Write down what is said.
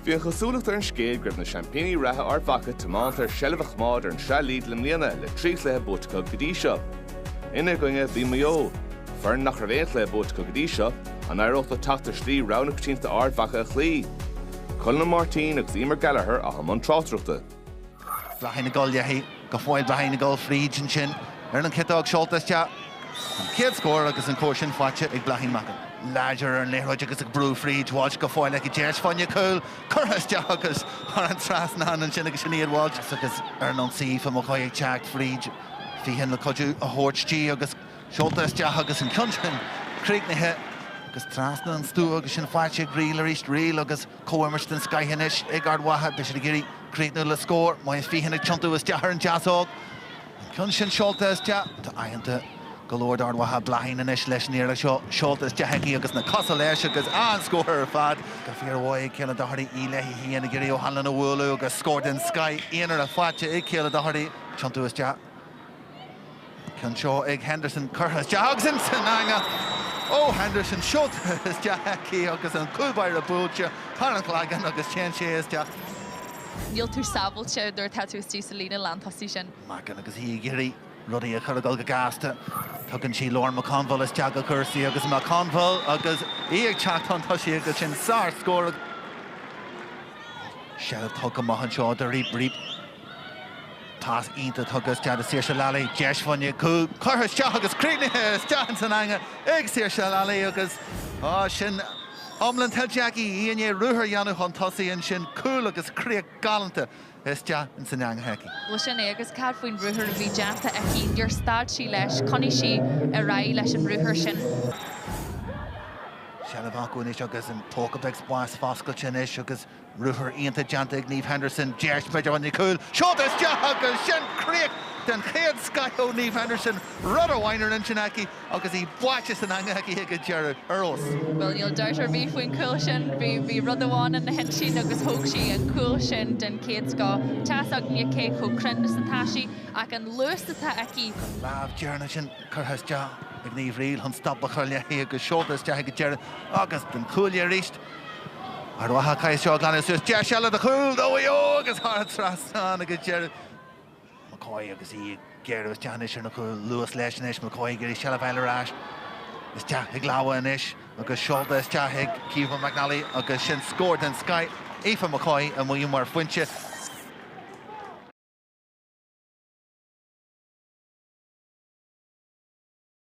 Bhí an chosúlacht ar an scéal go raibh na seaimpíní reatha Ard Mhacha tiomanta ar seilbh a choimeád ar an Sraith Lidl i mbliana le trí chluiche buaite acu go dtí seo. Ina gcoinne, bhí Maigh Eo, foireann nach raibh aon chluiche buaite acu go dtí seo, an éireodh leo teacht ar shlí rogha na coitianta Ard Mhacha a chloí? Colin Ó Máirtín agus Emer Gallagher, atá i mbun tráchtaireachta. Bláithín ag gabháil léi go fóill, Bláithín ag gabháil fríd ansin ar an chiotóg seolta isteach. An chéad scór agus an scór sin faighte ag Bláithín Mackin. Láidir ar an liathróid agus ag brú fríd, Walsh go fóill aici, deis fá choinne cúil curtha isteach agus thar an trasnán ansin agus Sinéad Walsh agus ar an ionsaí Aoife McCoy ag teacht fríd, Feehan le cuidiú a thabhairt di agus seolta isteach agus an ceann sin críochnaithe agus trasna an stua agus sin faighte ag Reel arís, Reel agus. Comhimirt den scoith anois ag Ard Mhacha. Beidh siad ag iarraidh críochnú le scór. Moya Feehan ag tiontú isteach ar an deasóg. An ceann sin seolta isteach. Tá oicheanta go leor d'Ard Mhacha. Bláithín anois leis an iarracht seo. Seolta isteach aici agus na cosa leis agus an scór ar fad. Go fíormhaith ag Kayla Doherty, í léithi féin ag iarraidh O'Hanlon a bhualadh agus scór den scoith aonair faighte ag Kayla Doherty. Ag tiontú isteach. Ceann seo ag Henderson curtha isteach agus ins an eangach ó Henderson. Seolta isteach aici agus an cúlbáire buailte thar an chloigeann agus téann sé isteach. Níl tú sábháilte nuair atá tú istigh sa líne lántosaigh sin. Mackin agus í ag iarraidh rudaí a chur ag gabháil go gasta. Tugann sí Lauren McConville isteach go cúrsaí agus McConville agus í ag teacht chun tosaigh agus sin sárscór. Seilbh tugtha go maith anseo do Reape. Pas iontach tugtha isteach do Saoirse Lally. Deis fá choinne cúil. Curtha isteach agus críochnaithe isteach ins an eangaigh ag Saoirse Lally agus sin iomlán tuillte aici. Í i ndiaidh ruathar a dhéanamh chun tosaigh ansin. Cúl agus críoch galánta isteach ins an eangach aici. Bhuel sin é agus cad faoin ruathar a bhí déanta aici? Níor stad sí leis. Choinnigh sí ar aghaidh leis an ruathar sin. Seilbh acu anois agus an póca beag spáis foscailte anois agus Ruathar iontach déanta ag Niamh Henderson, deis b'fhéidir fá choinne cúil, seolta isteach agus sin críoch den chéad scoith ó Niamh Henderson, rud amháin ar intinn aici agus í báite san eangach aici ag an deireadh. Ar fheabhas. Bhuel, níl dabht ar bith faoin chúl sin. Bhí rud amháin ina hintinn agus thóg sí an cúl sin den chéad scoth. Tá's againne cé chomh cruinn is atá sí ach an luas atá aici! An lámh deireanach sin curtha isteach ag Niamh Reel chun stop a chur léi agus seolta isteach ag an deireadh agus an cúl léi arís. Ard Mhacha, caithfidh siad seo a ghlanadh suas, deis eile do chúl do Mhaigh Eo agus thar an trasnán ag an deireadh. McCoy agus í ag gearradh isteach anois ar an gcúl. Luas leis anois, McCoy ag iarraidh seilbh a fháil ar ais. Isteach ag labhadh anois agus seolta isteach ag Caoimhe McNally agus sin scór den scoith. Aoife McCoy amuigh mar phointe.